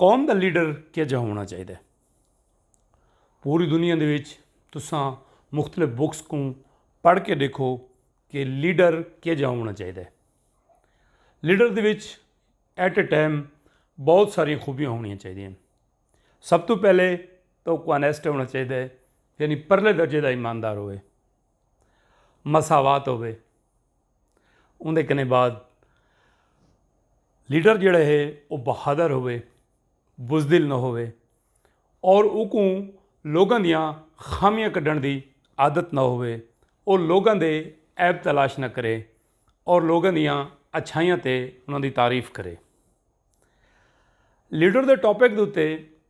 قوم دا لیڈر کیا جا ہونا چاہیے پوری دنیا دے وچ تساں مختلف بکس کو پڑھ کے دیکھو کہ لیڈر کیا جا ہونا چاہیے لیڈر دے وچ ایٹ اے ٹائم بہت ساری خوبیاں ہونی چاہیے سب تو پہلے تو کونیسٹ ہونا چاہیے یعنی پرلے درجے دا ایماندار ہوئے مساوات ہوے اندے کنے بعد لیڈر جڑے ہے وہ بہادر ہوے بزدل نہ ہوے اور اکوں لوگوں دیا خامیاں کڈن دی عادت نہ ہوے وہ لوگوں دے ایب تلاش نہ کرے اور لوگوں دیا اچھائیاں تے انہوں دی تعریف کرے لیڈر دے ٹاپک دے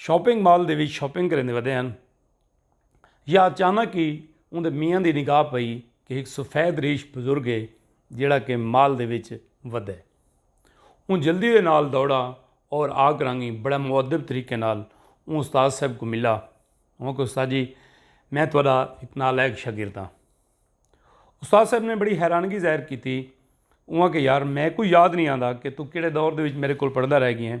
شاپنگ مال دے وچ شاپنگ کریندے ودے ہن یا اچانک ہی اوندے میاں دی نگاہ پئی کہ ہک سفید ریش بزرگ ہے جیڑا کہ مال دے وچ ودے اون جلدی دے نال دوڑا اور آ کرانگی بڑا مؤدب طریقے نال اون استاد صاحب کو ملا اون کہ استاد جی میں تہاڈا ایک نالائق شاگرد ہاں استاد صاحب نے بڑی حیرانگی ظاہر کی تھی اون کہ یار میں کوئی یاد نہیں آندا کہ تو کیڑے دور دے وچ میرے کول پڑھدا رہ گیا ہیں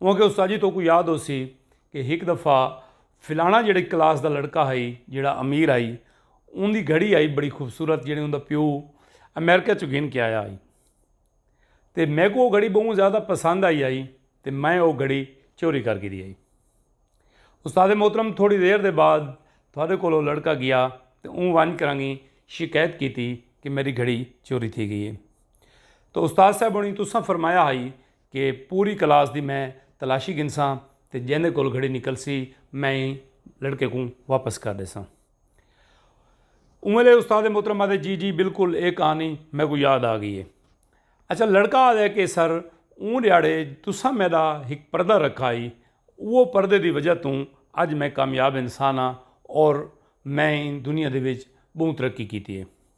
اوہاں کے استاد جی توکوں یاد ہوسی کہ ہک دفعہ فلانا جیڑے کلاس دا لڑکا ہائی جیڑا امیر ہائی اون دی گھڑی آئی بڑی خوبصورت جیڑے اون دا پیو امریکہ چو گھن کے آیا آئی تے میں کو وہ گھڑی بہوں زیادہ پسند آئی آئی تے میں وہ گھڑی چوری کر گھری آئی استاد محترم تھوڑی دیر دے بعد تھوڑے کو لو لڑکا گیا تے اون ون کرانگی شکایت کیتی کہ میری گھڑی چوری تھی گئی ہے تو استاد صاحب انہیں تساں فرمایا ہائی کہ پوری کلاس دی میں تلاشی گھنساں تے جیندے کول گھڑی نکلسی میں ایں لڑکے کوں واپس کر ݙیساں۔ اوں ویلے استاد محترم آہدے جی جی بالکل اے کہانی میکوں یاد آ گئی اے۔ اچھا لڑکا آہدے کہ سر اوں ݙیہاڑے تساں میݙا ہک پردہ رکھا ہئی اوہ پردے دی وجہ توں اڄ میں کامیاب انسان ہاں اور میں ایں دنیا دے وچ ٻہوں ترقی کیتی اے۔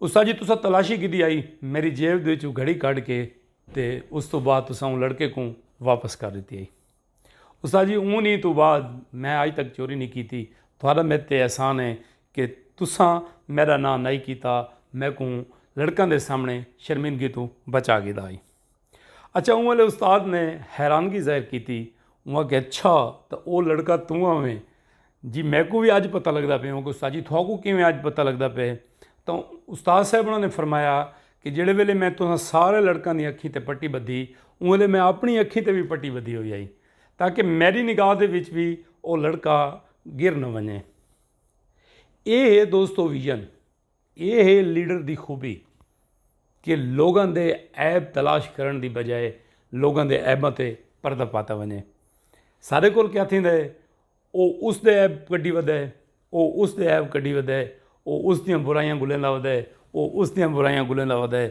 استاد جی تساں تلاشی کیتی آئی میری جیب دے وچوں گھڑی کڈھ کے تے اس توں بعد تساں اوں لڑکے کوں واپس کر ڈتی آئی استاد جی اوں نی توں بعد میں اج تک چوری نی کیتی تہاڈا میرے تے احسان ہے کہ تساں میرا ناں نائی کیتا میکوں لڑکاں دے سامنے شرمندگی توں بچا گھدا آئی۔ اچھا اوں والے استاد نے حیرانگی ظاہر کیتی اوں آکھیا اچھا تے او لڑکا توں آویں جی میکوں وی اج پتہ لگدا پے اوں کو استاد جی تھاکوں کیویں اج پتہ لگدا پے تاں استاد صاحب انہاں نے فرمایا کہ جیڑھے ویلے میں تساں سارے لڑکاں دی اکھیں تے پٹی بدھی اوں والے میں اپنی اکھیں تے وی پٹی بدھی ہوئی ہئی تاکہ میڈی نگاہ دے وچ وی او لڑکا گر نہ ونجے اے ہے دوستو ویژن اے ہے لیڈر دی خوبی کہ لوگاں دے عیب تلاش کرن دی بجائے لوگاں دے عیباں تے پردہ پاتا ونجے سارے کول کیا تھیندا ہے او اس دے عیب کڈی ودا ہے او اس دے عیب کڈی ودا ہے او اس دیاں برائیاں گلیندا ودا ہے او اس دیاں برائیاں گلیندا ودا ہے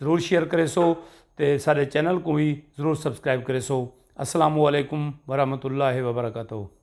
ضرور شیئر کرے سو تے سارے چینل کوں وی ضرور سبسکرائب کرے سو السلام علیکم ورحمۃ اللہ وبرکاتہ